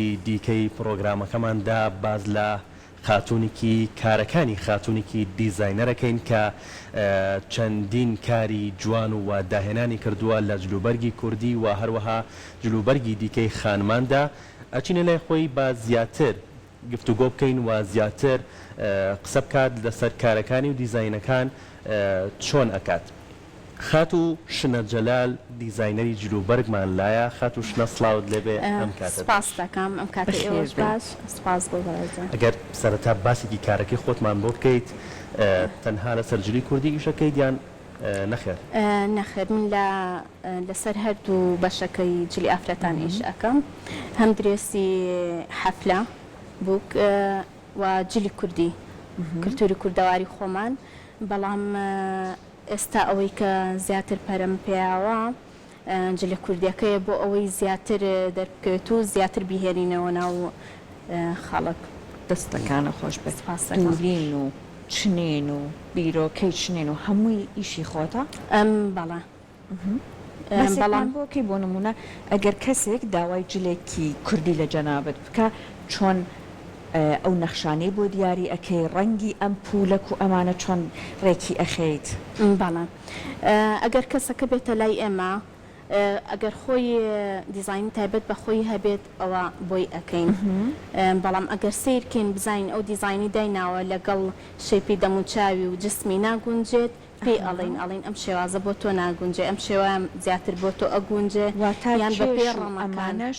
دیکەی پڕۆگرامەکەماندا باس لە خاتوونیکی کارەکانی خاتوونیکی دیزاینەرەکەین کە چەندین کاری جوان و داهێنانی کردووە لە جلوبەرگی کوردی و هەروەها جلوبەرگی دیکەی خانماندا ئەچینە لای خۆی با زیاتر گفتوگۆ بکەین و زیاتر قسە بکات لەسەر کارەکانی و دیزاینەکان چۆن ئەکات. خاتوو شنە جەلال دیزاینەری جلوبەرگمان لایە خاتوو شنە سڵاوت لێبێ ئەم کاتەت باش. سپاست دەکەم ئەم کاتەی ئێوەش باش سپاس بۆ بەڕێزە. ئەگەر سەرەتا باسێکی کارەکەی خۆتمان بۆ بکەیت تەنها لەسەر جلی کوردی ئیش ئەکەیت یان نەخێر؟ نەخێر من لە لەسەر هەردوو بەشەکەی جلی ئافرەتان ئیش ئەکەم هەم درێسی حەفلە بووک و جلی کوردی کلتوری کوردەواری خۆمان بەڵام ئێستا ئەوەی کە زیاتر پەرەم پێیاوە جلە کوردیەکەیە بۆ ئەوەی زیاتر دەربکەوێت و زیاتر بیهێنینەوە ناو خەڵک. دەستەکانت خۆش بێت دورین و چنین و بیرۆکەی چنین و هەمووی ئیشی خۆتە؟ بەڵێ مەسێکمان بۆ کەی بۆ نمونە ئەگەر کەسێک داوای جلێکی کوردی لە جەنابت بکا چۆن ئەو نەخشانەی بۆ دیاری ئەکەی ڕەنگی ئەم پولەک و ئەمانە چۆن ڕێکی ئەخەیت. بەڵێ ئەگەر کەسەکە بێتە لای ئێمە ئەگەر خۆی دیزاینی تایبەت بە خۆی هەبێت ئەوە بۆی ئەکەین بەڵام ئەگەر سەیر کەین بزانین ئەو دیزاینی دایناوە لەگەڵ شەیپی دەموچاوی و جسمی ناگونجێت پێی ئەڵێین ئەڵێین ئەم شێوازە بۆ تۆ ناگونجێ ئەم شێوە زیاتر بۆ تۆ ئەگونجێ یان بە پێی ڕەمەکان. واتە کێش و ئەمانەش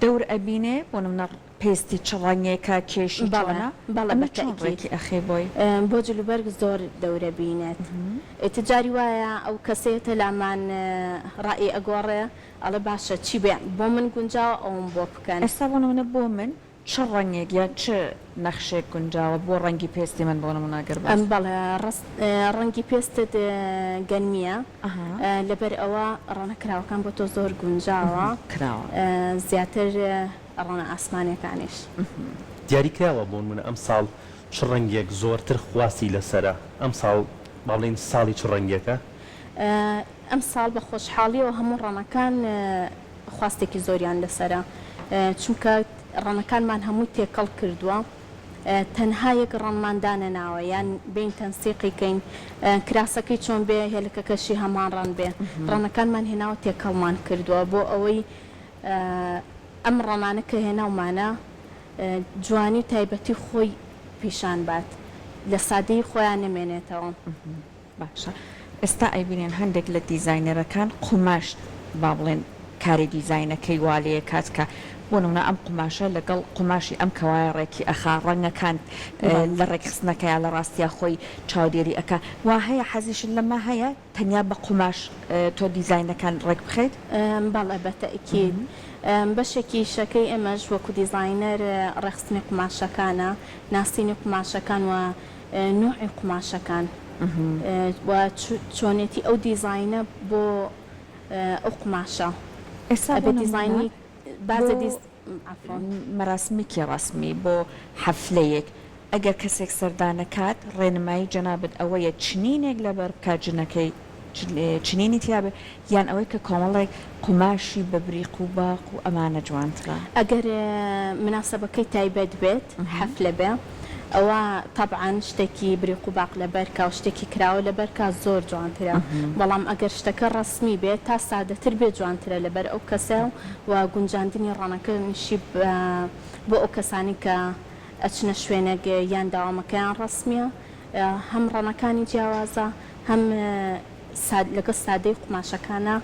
دەور ئەبینێ بۆ نمونە پێستی چ ڕەنگێکە کێشی چۆنە ئەمە چۆن ڕێکی ئەخەی بۆی. بۆ جل و بەرگ زۆر دەورە بینێت ئیتر جاری وایە ئەو کەسەیەتە لامان ڕای ئەگۆڕێ ئەڵێ باشە چی بێ بۆ من گونجاوە ئەوم بۆ بکەن. ئێستا بۆ نمونە بۆ من چ ڕەنگێک یان چ نەخشێک گونجاوە بۆ ڕەنگی پێستی من بۆ نمونە گەر باس. بەڵێ ڕاست ڕەنگی پێستت گەنمیە لەبەر ئەوە ڕەنە کراوەکان بۆ تۆ زۆر گونجاوە کراوە زیاتر ڕەنە ئاسمانیەکانیش. دیاری کراوە بۆنمونە ئەم ساڵ چ ڕەنگێک زۆرتر خواستی لەسەرە ئەم ساڵ بابڵێین ساڵی چ ڕەنگێکە؟ ئەم ساڵ بە خۆشحاڵیەوە هەموو ڕەنەکان خواستێکی زۆریان لەسەرە چونکە ڕەنەکانمان هەمووی تێکەڵ کردوە تەنها یەک ڕەنمان دانەناوە یان بێین تەنسیقی کەین کراسەکەی چۆن بێ هێلکەکەشی هەمان ڕەن بێ ڕەنەکانمان هێناوە تێکەڵمان کردوە بۆ ئەوەی ئەم ڕۆمانە کە هێناومانە جوانی و تایبەتی خۆی پیشان بات لە سادەیی خۆیا نەمێنێتەوە. باشە ئێستا ئەیبینن هەندێک لە دیزاینەرەکان قوماش با بڵێن کاری دیزاینەکەی وا لێکات کە بۆ نموونە ئەم قوماشە لەگەڵ قوماشی ئەم کەوایە ڕێکی ئەخا ڕەنگەکان لە ڕێکخستنەکەیا لە ڕاستیا خۆی چاودێری ئەکا وا هەیە حەزیشت لەمە هەیە؟ تەنیا بە قوماش تۆ دیزاینەکان ڕێک بخەیت؟ بەڵێ بە تەئکید بەشێکی ئیشەکەی ئێمەش وەکو دیزاینەر ڕێکخستنی قوماشەکانە ناسینی قوماشەکان و نوعی قوماشەکان و چۆنێتی ئەو دیزاینە بۆ ئەو قوماشە ئێستا بۆ نمونە. بازە بیست عەفوا. مەراسمێکی ڕەسمی بۆ حەفلەیەک ئەگەر کەسێک سەردانەکات ڕێنمایی جەنابت ئەوەیە چنینێک لەبەربکات جنەکەی چنینی تیابێت یان ئەوەی کە کۆمەڵێک قوماشی بە بریق و باق و ئەمانە جوانترە. ئەگەر مناسەبەکەی تایبەت بێت حەفلە بێ. ئەوە تەبعەن شتەکی بریق و باق لەبەرکا و شتەکی کراوە لەبەرکا زۆر جوانترە بەڵام ئەگەر شتەکە ڕەسمی بێت تا سادەتر بێت جوانترە لەبەر ئەو کەسە و گونجاندنی ڕەنەکەنیشی بۆ ئەو کەسانی کە ئەچنە شوێنەک یان دەوامەکەیان ڕەسمیە هەم ڕەنەکانی جیاوازە هەم لەگەڵ سادەی قوماشەکانە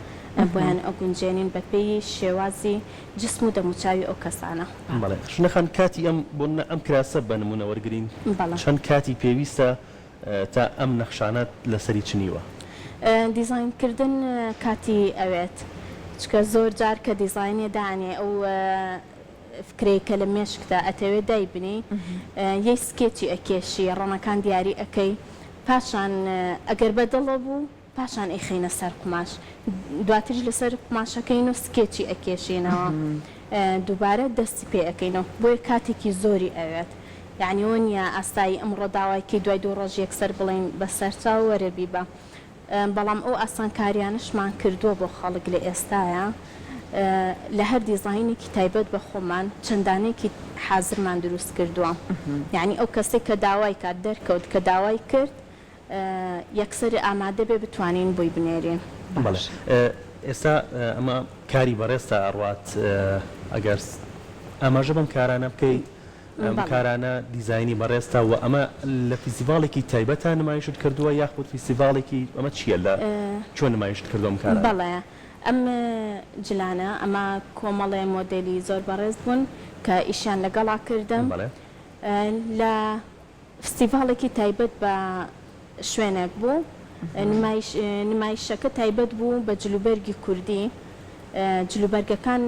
بۆیان ئەگونجێنین بەپێی شێوازی جسم و دەموچاوی ئەو کەسانە. بەڵێ ژنە خان کاتی ئەم بۆ منە ئەم کراسە بە نمونە وەرگرین بەڵێ. چەند کاتی پێویستە تا ئەم نەخشانە لە سەری چنیوە؟ دیزاین کردن کاتی ئەوێت چونکە زۆر جار کە دیزاینێ دانێ ئەو فکرەی کە لە مێشکتە ئەتەوێ دای بنێی یەی سکێچی ئەکێشی ڕەنەکان دیاری ئەکەی پاشان ئەگەر بە دڵە بوو پاشان ئەیخەینە سەر قوماش دواتریش لەسەر قوماشەکەین و سکێچی ئەکێشینەوە دووبارە دەستی پێ ئەکەینەوە بۆیە کاتێکی زۆری ئەوێت یەعنی وە نییە ئاسایی ئەمڕۆ داوای کەی دوای دوو ڕۆژ یەکسەر بڵێین بە سەرچاو وەرە بیبە بەڵام ئەو ئاسانکاریانەشمان کردووە بۆ خەڵک لە ئێستایا لە هەر دیزاینێکی تایبەت بە خۆمان چەند دانەیەکی حازرمان دروست کردووە یەعنی ئەو کەسەی کە داوای کات دەرکەوت کە داوای کرد یەکسەر ئامادە بێ بتوانین بۆی بنێرین. بەڵێ ئێستا ئەمە کاری بەڕێزتا ئەڕوات ئەگەر ئاماژە بەم کارانە بکەیت ئەم کارانە دیزاینی بەڕێزتە وە ئەمە لە فیسیڤاڵێکی تایبەتە نمایشت کردووە یاخود فیسیڤاڵێکی ئەمە چییە لە چۆن نمایشت کردووە ئەم کارانە؟ بەڵێ ئەم جلانە ئەمە کۆمەڵێ مۆدێلی زۆر بەڕێز بوون کە ئیشیان لەگەڵا کردم لە فستیڤاڵێکی تایبەت بە شوێنێک بوو، نمایش نمایشەکە تایبەت بوو بە جلوبەرگی کوردی، جلوبەرگەکان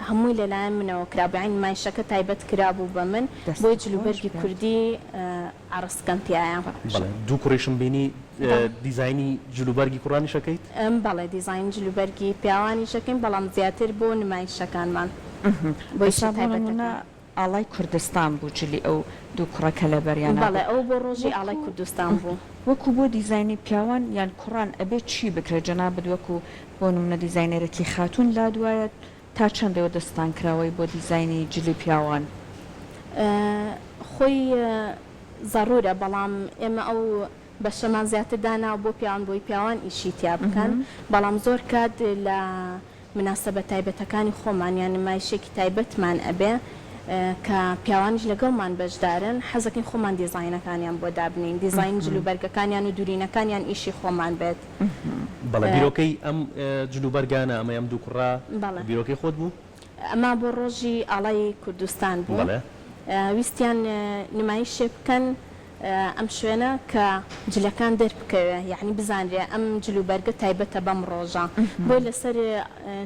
هەمووی لەلایەن منەوە کرا بوو، یانی نمایشەکە تایبەت کرا بوو بە من، بۆیە جلوبەرگی کوردی عەڕسکەم تیایە. دوو کوڕیشم بینی دیزاینی جلوبەرگی کوڕانیش ئەکەیت؟ بەڵێ دیزاینی جلوبەرگی پیاوانیش ئەکەین، بەڵام زیاتر بۆ نمایشەکانمان، بۆ ئیشە تایبەتەکان. ئاڵای کوردستان بوو جلی ئەو دوو کوڕە کەلە بەریانا بوو. بەڵێ ئەوە بۆ ڕۆژی ئاڵای کوردستان بوو. وەکو بۆ دیزاینی پیاوان یان کوڕان ئەبێ چی بکرێ جەنابت وەکو بۆ نمونە دیزاینەرێکی خاتون لاد وایە تا چەند ئێوە دەستتان کراوەی بۆ دیزاینی جلی پیاوان. خۆی زەڕورە بەڵام ئێمە ئەو بەشەمان زیاتر داناوە بۆ پیاوان بۆی پیاوان ئیشی تیا بکەن بەڵام زۆر کات لە. مناسەبە تایبەتەکانی خۆمان یان نمایشێکی تایبەتمان ئەبێ کە پیاوانیش لەگەڵمان بەشدارن حەزەکەین خۆمان دیزاینەکانیان بۆ دابنێین دیزاین جل و بەرگەکانیان و دوورینەکانیان ئیشی خۆمان بێت. بەڵێ بیرۆکەی ئەم جل و بەرگانە ئەمەی ئەم دوو کوڕە بەڵێ بیرۆکەی خۆت بوو؟ ئەمە بۆ ڕۆژی ئاڵای کوردستان بوو بەڵێ. ویستیان نمایشێ بکەن ئەم شوێنە کە جلەکان دەربکەوێ یەعنی بزانرێ ئەم جل و بەرگە تایبەتە بەم ڕۆژە بۆی لەسەر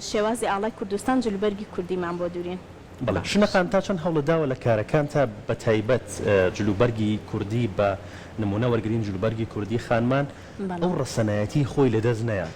شێوازی ئاڵای کوردستان جل و بەرگی کوردیمان بۆ دورین. بەڵێ ژنەکان تا چەند هەوڵت داوە لە کارەکانتا بە تایبەت جل و بەرگی کوردی بە نمونە وەرگرین جل و بەرگی کوردی خانمان ئەو ڕەسەنایەتی خۆی لە دەست نەیات؟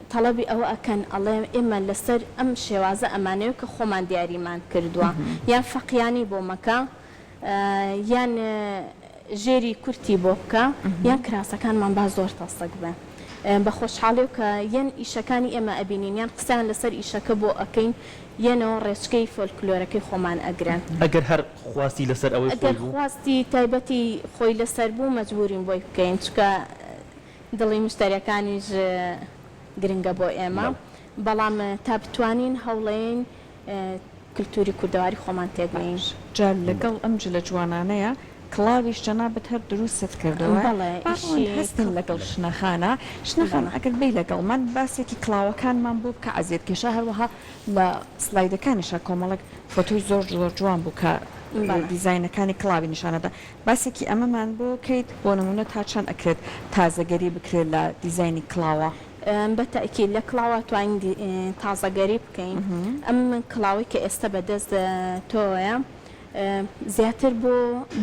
تەڵەبی ئەوە ئەکەن ئەڵێن ئێمە لەسەر ئەم شێوازە ئەمانەوێ کە خۆمان دیاریمان کردووە یان فەقیانی بۆ مەکە یان ژێری کورتی بۆ بکە یان کراسەکانمان با زۆر تەسک بن بە خۆشحاڵی و کە یەن ئیشەکانی ئێمە ئەبینین یان قسەیان لەسەر ئیشەکە بۆ ئەکەین یەنەوە ڕێچکەی فۆلکلۆرەکەی خۆمان ئەگرن. ئەگەر هەر خواستی لەسەر ئەوەی خۆی بوو؟ ئەگەر خواستی تایبەتی خۆی لەسەر بوو مەجبوورین بۆی بکەین چونکە. دڵی مشتەرەکانیش گرنگە بۆ ئێمە، بەڵام تا بتوانین هەوڵێین کلتوری کوردەواری خۆمان تێک بینین. جا لەگەڵ ئەم جلە جوانانەیا کڵاویش جەنابت هەر دروستت کردوە بەڕوونت هەستین لەگەڵ شنە خانە شنە خان ئەگەر بێی لەگەڵمان باسێکی کڵاوەکانمان بۆ بکە عەزێت کێشا هەروەها لە سڵایدەکانیشا کۆمەڵێک فۆتۆی زۆر زۆر جوان بوو کە دیزاینەکانی کڵاوی نیشانەدا. باسێکی ئەمەمان بۆ کەیت بۆ نمونە تا چەند ئەکرێت تازەگەری بکرێت لە دیزاینی کڵاوە؟ بە تەئکید لە کڵاوە توانین تازەگەری بکەین ئەم کڵاوەی کە ئێستە بە دەست تۆیە زیاتر بۆ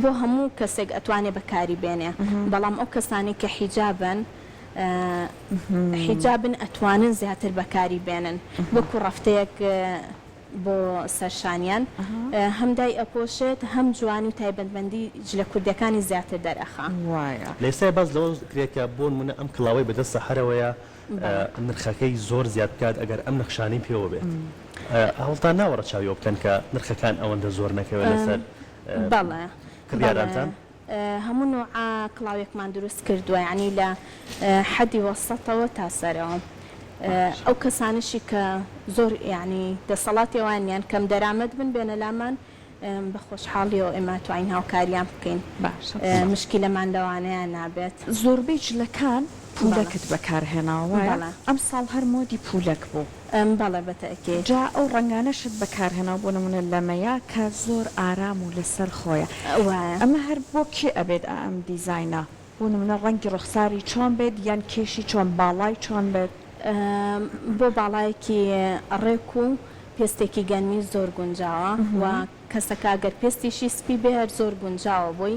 بۆ هەموو کەسێک ئەتوانێ بەکاری بێنێ بەڵام ئەو کەسانەی کە حیجابن حیجابن ئەتوانن زیاتر بەکاری بێنن وەکو ڕەفتەیەک بۆ سەر شانیان هەم دای ئەپۆشێت هەم جوان و تایبەتمەندی جلە کوردیەکانی زیاتر دەرئەخا. وایە. لە ئێستایا باس لەوە کرێ کە بۆنمونە ئەم کڵاوەی بەدەست سەحەرەوەیە نرخەکەی زۆر زیاد بکات ئەگەر ئەم نەخشانەی پێوە بێت هەوڵتان ناوە ڕەچاوی ئەوە بکەن کە نرخەکان ئەوەندە زۆر نەکەوێت لەسەر کڕیارانتان؟ هەموو نوعە کڵاوێکمان دروست کردوە یانی لە حەدی وەسەتەوە تا سەرەوە ئەو کەسانشی کە زۆر یعنی دەسەڵاتی ئەوان نیان کەم دەرامەت بن بێنە لامان بە خۆشحاڵیەوە ئێمە توانین هاوکاریان بکەین مشکلەمان لەوانەیە نابێت. زۆربەی جلەکان پولەکت بەکارهێناوە وایە؟ ئەمساڵ هەر مۆدی پولەک بوو. ام بەڵێ بە تەئکید. جا ئەو ڕەنگانەشت بەکار هێناو بۆ نمونە لەمەیا کە زۆر ئارام و لەسەر خۆیە وایە. ئەمە هەر بۆ کێ ئەبێت ئا ئەم دیزاینە؟ بۆ نمونە ڕەنگی ڕوخساری چۆن بێت یان کێشی چۆن باڵای چۆن بێت؟ ام بۆ باڵایەکی ڕێک و پێستێکی گەنمی زۆر گونجاوە وە کەسەکە گەر پێستیشی سپی بێ هەر زۆر گونجاوە بۆی.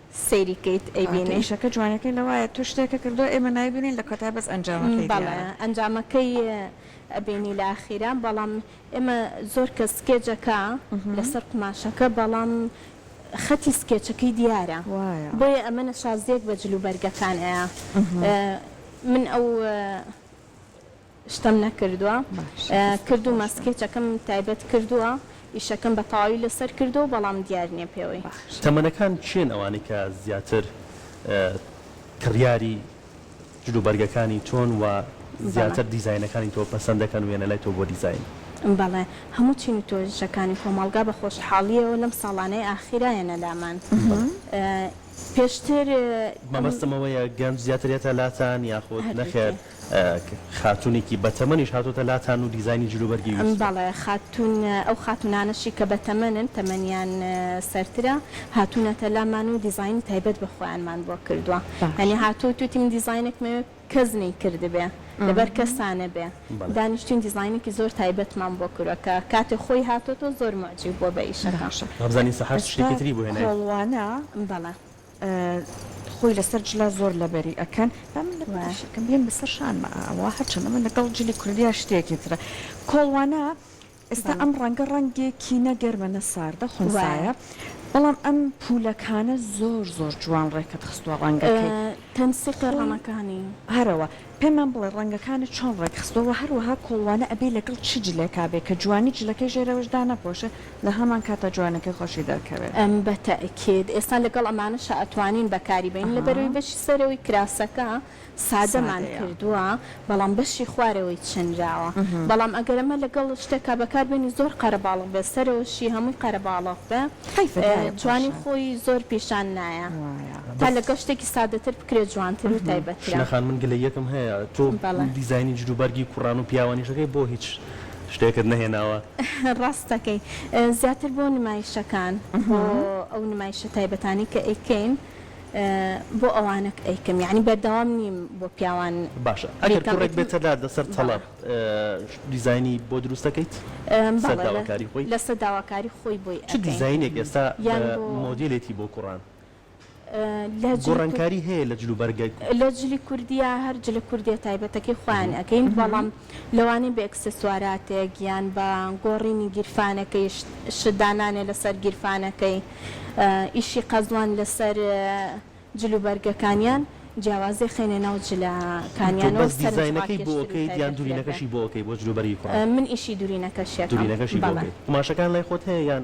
سەیری کەیت ئەیبینی. کە ئیشەکە جوانیەکەی لەوایە تۆ شتێکە کردوە ئێمە نایبینین لە کۆتای بەس ئەنجامەکەی دیارە. بەڵێ ئەنجامەکەی ئەبینی لە ئاخیرا بەڵام ئێمە زۆر کەس سکێچ ئەکا لەسەر قوماشەکە بەڵام خەتی سکێچەکەی دیارە وایە. بۆیە ئەمە نەشازیەک بە جلوبەرگەکان ئەیا من ئەو. شتم نەکردووە باشە دەستت کردوومە خۆش بێ. سکێچەکەم تایبەت کردووە ئیشەکەم بە تەواوی لەسەر کردووە بەڵام دیار نییە پێوەی. باشە. تەمەنەکان کێن ئەوانەی کە زیاتر کڕیاری جل و بەرگەکانی تۆن و بەڵێ. زیاتر دیزاینەکانی تۆ پەسەند دەکەن و یەنە لای تۆ بۆ دیزاین؟ بەڵێ هەموو چین و تۆژەکانی کۆمەڵگا بە خۆشحاڵییەوە لەم ساڵانەی ئاخیرا یەنە لامان پێشتر. مەبەستم ئەوەیە گەنج زیاتر یەتە لاتان یاخود نەخێر؟ هەردووکی. خاتوونێکی بەتەمەنیش هاتووەتە لاتان و دیزاینی جلوبەرگی ویستووە؟ بەڵێ خاتوون، ئەو خاتوونانەشی کە بەتەمەنن، تەمەنیان سەرترە، هاتوونەتە لامان و دیزاینی تایبەت بە خۆیانمان بۆ کردووە. یانی هاتووە وتوویەتی من دیزاینێکم ئەوێ کەس نەیکردبێ، لەبەر کەسا نەبێ. دانیشتووین دیزاینێکی زۆر تایبەتمان بۆ کردووە کە کاتێ خۆی هاتۆتەوە زۆر موعجیب بووە بە ئیشەکە. باشە ئەستا کۆڵوانە خۆی لەسەر جلە زۆر لەبەری ئەکەن با من لە شەکەم بێن بەسەر شانمە ئەوە هەرچەندە من لەگەڵ جلی کوردیا شتێکی ترە کۆڵوانە ئێستا ئەم ڕەنگە ڕەنگێکی نەگەرمە نە ساردە خۆزایە بەڵام ئەم پولەکانە زۆر زۆر جوان ڕێکت خستووە ڕەنگەکەی تەنسیقی ڕەنەکانی هەرەوە پێمان بڵێ ڕەنگەکانە چۆن ڕێکخستەوە هەروەها کۆڵوانە ئەبێ لەگەڵ چ جلێکا بێ کە جوانی جلەکەی ژێرەوەشدا نەپۆشە لە هەمان کاتدا جوانیەکەی خۆشی دەرکەوێ. ئەم بە تەئکید ئێستا لەگەڵ ئەمانەشا ئەتوانین بەکاری بەین لەبەروی بەشی سەرەوەی کراسەکە سادەمان سادەیە. کردوە بەڵام بەشی خوارەوەی چنراوە بەڵام ئەگەر ئەمە لەگەڵ شتێکا بەکار بەینی زۆر قەرەباڵغ بێ سەرەوەشی هەموی قەرەباڵغ بێ حەیفە دایە جوانی پاشان خۆی زۆر پیشان نایە وایە. تا بەس لەگەڵ شتێکی سادەتر بکرێ جوانتر و تایبەترە. شنە خان من گلەییەکم هەیە تۆ بەڵێ. دیزاینی جلوبەرگی کوڕان و پیاوانیشەکەی بۆ هیچ شتێکت نەهێناوە؟ ڕاست دەکەی زیاتر بۆ نمایشەکان بۆ ئەو نمایشە تایبەتانەی کە ئەیکەین بۆ ئەوانەک ئەیکەم یانی بەردەوام نیم بۆ پیاوان. باشە ئەگەر کوڕێک بێتەداتە سەر تەڵەب دیزاینی بۆ دروست دەکەیت؟ لەسەر داواکاری خۆی؟ لەسەر داواکاری خۆی بۆی ئەکەین. چ دیزاینێک ئێستا مۆدێلێتی بۆ کوڕان؟ گۆڕانکاری هەیە لە جل و بەرگە کوردیە. لە جلی کوردیە هەر جلە کوردیە تایبەتەکەی خۆیان ئەکەین بەڵام لەوانەیە بە ئێکسسواراتێک یان بە گۆڕینی گیرفانەکەی شت دانانێ لەسەر گیرفانەکەی ئیشی قەزوان لەسەر جل و بەرگەکانیان جیاوازی خەینە ناو جلە کانیانەوە سەرنج ڕاکێشتر و تایبەتتر ئەکەین. تۆ بەس دیزاینەکەی بۆ ئەکەیت یان دورینەکەشی بۆ ئەکەی بۆ جل و بەرگی کوڕان؟ من ئیشی دورینەکەشی ئەکەم. دورینەکەشی بۆ ئەکەی. قوماشەکان لای خۆت هەیە یان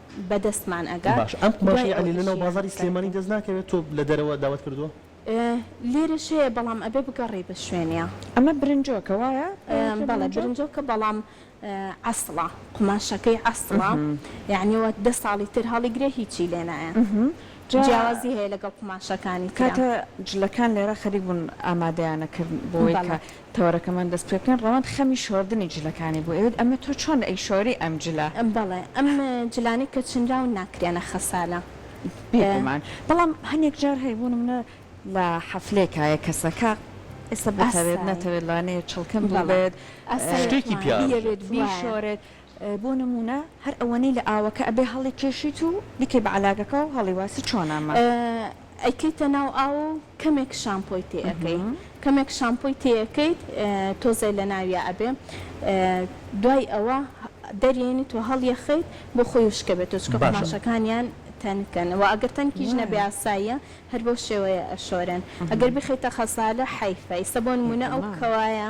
بە دەستمان ئەگا باشە ئەم قوماشەی عەلی لەناو بازاری سلێمانی دەست ناکەوێت تۆ لە دەرەوە داوات کردووە؟ لێرەش هەیە بەڵام ئەبێ بگەڕێی بە شوێنیا. ئەمە برنجۆکە وایە؟ بەڵێ برنجۆکە بەڵام عەسڵە قوماشەکەی عەسڵە یەعنی وەک دە ساڵی تر هەڵیگرێ هیچی لێ نایە جیاوازی هەیە لەگەڵ قوماشەکانی ترا. کاتە جلەکان لێرە خەریک بوون ئامادەیانەکردن بۆ ئەوەی کە. تەوەرەکەمان دەست پێ بکەین. ڕەوەند خەمی شۆردنی جلەکانی بوو ئەوێت، ئەمە تۆ چۆن ئەیشۆری ئەم جلە؟ بەڵێ ئەم جلانەی کە چنراون ناکرێنە خەسالە. بێگومان بەڵام هەنێک جار هەیە بۆ نمونە لە حەفلەیەکا یە کەسەکە ئێستا بتەوێت نەتەوێت لانەیە چڵکن بووبێت شتێکی پیاڕژێت بیشۆرێت بۆ نموونە هەر ئەوەنەی لە ئاوەکە ئەبێ هەڵی کێشیت و بیکەی بە عەلاگەکە و هەڵی واسی چۆن ئەمە. ئەیکەیتە ناو ئاو و کەمێک شامپۆی تێ ئەکەی کەمێک شامپۆی تێ ئەکەیت تۆزێ لە ناویا ئەبێ دوای ئەوە دەریێنیت و هەڵی ئەخەیت بۆ خۆی وشکە بێتەوە چونکە قوماشەکانیان تەنکن وە ئەگەر تەنکیش نەبێ ئاساییە هەر بەو شێوەیە ئەشۆرێن ئەگەر بیخەیتە خەسالە حەیفە ئیستە بۆ نموونە ئەو کەوایە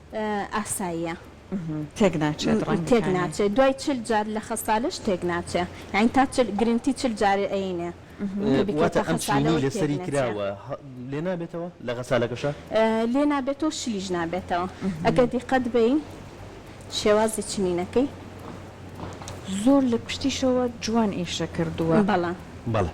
ئاساییە تێک ناچێت ڕەنگەکانی. تێک ناچێت دوای چل جار لە خەسالەش تێک ناچێ یانی تا چل گرنتی چل جار ئەینێ واتە ئەم چینی لەسەری کراوە لێ نابێتەوە لە غەسالەکەشە لێ نابێتەوە شلیش نابێتەوە ئەگەر دیقەت بەی شێوازی چنینەکەی زۆر لە پشتیشەوە جوان ئیشە کردووە بەڵام. بەڵێ.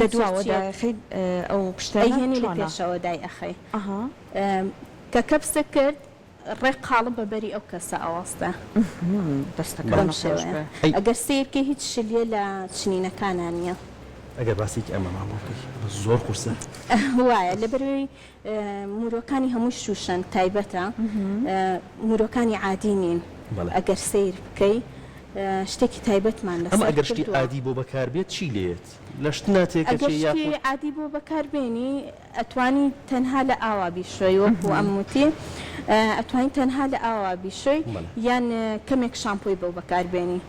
لە دواوە دایەخەی ئەو پشتێنە چۆنە؟ ئەیهێنی لە پێشەوە دایئەخەی. ئەها. کە کەپسک کرد ڕێک قاڵب بە بەری ئەو کەسە ئەوەستێ. دەستەکانت خۆش بێ. ئەگەر سەیرکەی هیچ شلیە لە چنینەکانا نیە. ئەگەر باسێکی ئەمە مامۆ بکەی زۆر قورسە. وایە لەبەروەی مورۆکانی هەمووی شوشەنگ تایبەتە مورۆکانی عادی نین ئەگەر سەیر بکەی شتێکی تایبەتمان لەسەر کردووە. ئەمە ئەگەر شتی عادی بۆ بەکار بێت چی لێیەت؟ لە شتنا تێکەچێ یاخود؟ ئەگەر شتی عادی بۆ بەکار بێنی ئەتوانی تەنها لە ئاوا بیشۆی وەکو ئەم وتی ئەتوانی تەنها لە ئاوا بیشۆی یان کەمێک شامپۆی بۆ بەکار بێنی.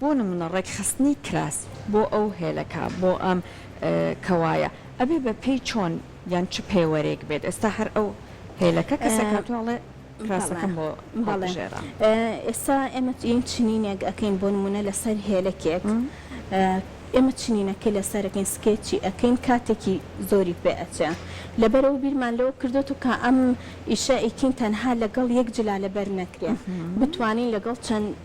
بۆ نمونە ڕێکخستنی کراس بۆ ئەو هێلەکە بۆ ئەم کەوایە ئەبێ بە پێی چۆن یان چ پێوەرێک بێت ئێستا هەر ئەو هێلەکە کەسێک هاتووە ئەڵێ کراسەکەم بۆ هەڵبژێرە. ئێستا ئێمە یەن چنینێک ئەکەین بۆ نمونە لەسەر هێلەکێک ئێمە چنینەکەی لەسەرەکەین سکێچی ئەکەین کاتێکی زۆری پێ ئەچێ لەبەرەوە بیرمان لەوە کردۆتو کە ئەم ئیشە ئەیکەین تەنها لەگەڵ یەک جلالە بەر نەکرێ بتوانین لەگەڵ چەند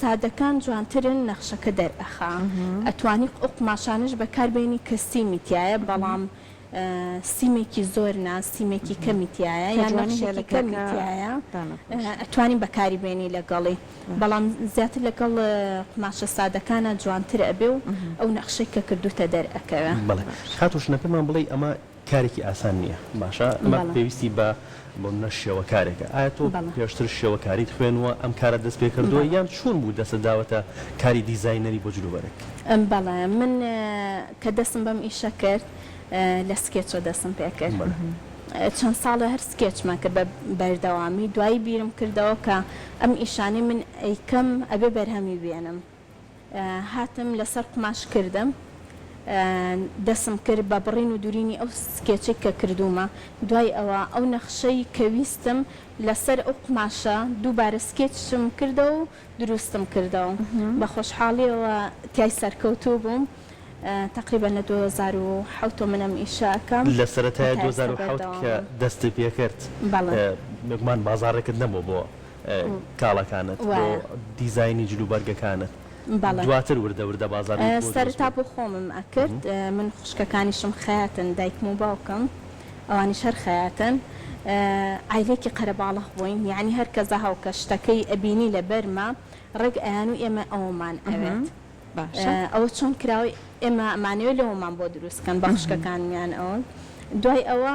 سادەکان جوانترن نەخشەکە دەرئەخا ئەتوانی ئەو قوماشانەش بەکار بێنی کە سیمی تیایە بەڵام سیمێکی زۆر نا سیمێکی کەمی تیایە یان نەخشێکی کەمی تیایە ئەتوانی بەکاری بێنی لەگەڵی بەڵام زیاتر لەگەڵ قوماشە سادەکانە جوانتر ئەبێ و ئەو نەخشەی کە کردوتە دەرئەکەوێ. بەڵێ خاتوو ژنەکەمان بڵێی ئەمە کارێکی ئاسان نییە باشە ئەمە پێویستی بە بۆ منە شێوەکارێکە ئایا تۆ پێشتر شێوەکاریت خوێنوە ئەم کارە دەست پێ کردووە یان چون بوو دەسە داوەتە کاری دیزایینەری بۆ جلوبەرگ؟ بەڵێ من کە دەسم بەم ئیشە کرد لە سکێچە دەسم پێ کرد چەند ساڵە هەر سکێچمە کرد بە بەردەوامی دوایی بیرم کردەوە کە ئەم ئیشانەی من ئەیکەم ئەبێ بەرهەمی بێنم هاتم لەسەر قوماش کردم دەسم کرد بە بڕین و دورینی ئەو سکێچەی کە کردوومە دوای ئەوە ئەو نەخشەی کە ویستم لەسەر ئەو قوماشە دووبارە سکێچم کردەوە و دروستم کردەوە بە خۆشحاڵیەوە تای سەرکەوتوو بووم تقریبا لە 2007 منم ئیشە ئەکەم لە سەرەتای 2007 کە دەستی پێکرد بەڵێ بێگومان بازاڕێکت نەبوو بۆ کاڵەکانت بۆ دیزاینی جل و بەرگەکانت دواتر وردە وردە بازار بۆ دروست بوو؟ سەرەتا بۆ خۆمم ئەکرد من خوشکەکانیشم خەیاتن دایکم و باوکم ئەوانیش هەر خەیاتن عایلەیەکی قەرەباڵغ بووین یەعنی هەر کەزە هەوکە شتەکەی ئەبینی لەبەرمە ڕێک ئەیان و ئێمە ئەوەمان ئەوێت ئەوە چۆن کراوەی ئێمە ئەمانەوێت لەوەمان بۆ دروست کەن بە خوشکەکانمیان ئەوەن دوای ئەوە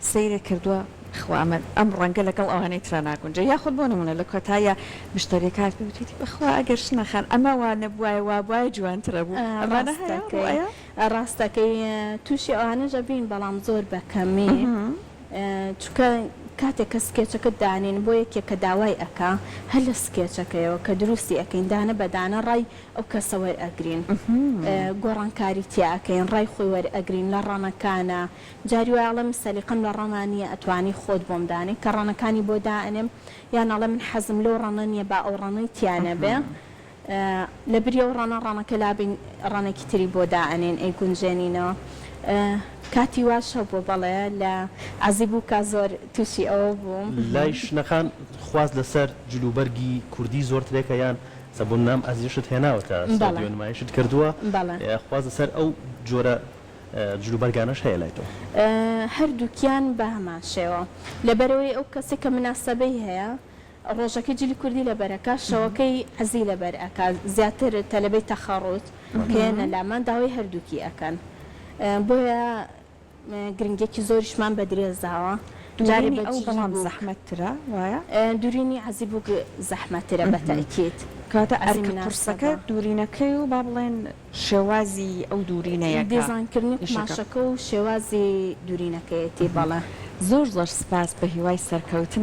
سەیرت کردووە بەخوا من ئەم ڕەنگە لەگەڵ ئەوانەی ترا ناگونجێ یاخود بۆ نموونە لە کۆتاییا مشتەریەک هات پێی وتیتی بەخوا ئەگەر شنە خان ئەمە وا نەبوایە وا بوایە جوانترە بوو ئەمانە هەیە ڕاست ئەکەی ڕوئەیە؟ ڕاست ئەکەی توشی ئەوانەش ئەبین بەڵام زۆر بە کەمی چونکە کاتێک کە سکێچەکەت دانێن بۆ یەکێک کە داوای ئەکا هەر لە سکێچەکەیەوە کە دروستی ئەکەین دانە بە دانە ڕای ئەو کەسە وەر ئەگرین گۆڕانکاری تیا ئەکەین ڕای خۆی وەر ئەگرین لە ڕەنەکانا جاری وایە ئەڵێم سەلیقەم لە ڕەنا نییە ئەتوانی خۆت بۆم دانێ کە ڕەنەکانی بۆ دائەنێم یان ئەڵێ من حەزم لەو ڕەنە نییە با ئەو ڕەنەی تیا نەبێ لە بری ئەو ڕەنە ڕەنەکە لابەین ڕەنێکی تری بۆ دائەنێین ئەیگونجێنینەوە کاتی واش هەبووە بەڵێ لە عەزی بووکا زۆر تووشی ئەوە بووم. لای شنەخان خواست لەسەر جل و بەرگی کوردی زۆر ترێکە یان سەبوننام ئەزیزشت هێناوەتە سعودیە و نمایشت کردووە خواست لەسەر ئەو جۆرە جلوبەرگانەش هەیە لای تۆ؟ هەردووکیان بە هەمان شێوە. لەبەرئەوەی ئەو کەسە کە مناسەبەی هەیە، ڕۆژەکەی جلی کوردی لەبەر ئەکا، شەوەکەی عەزی لەبەر ئەکا. زیاتر تەلەبەی تەخەڕوت کە یەنە لامان، داوای هەردووکی ئەکەن. بۆیە گرنگییەکی زۆریشمان بە درێس داوە. دوورینی ئەو بەڵام زەحمەتترە، وایە؟ دوورینی عەزی بووک زەحمەتترە بە تەئکید. کەواتە ئەرکە قورسەکە دوورینەکەی و با بڵێین شێوازی ئەو دوورینەیەکە دیزاینکردنی نیشەکە. قوماشەکە و شێوازی دوورینەکەیەتی بەڵێ. زۆر زۆر سپاس بەهیوای سەرکەوتن.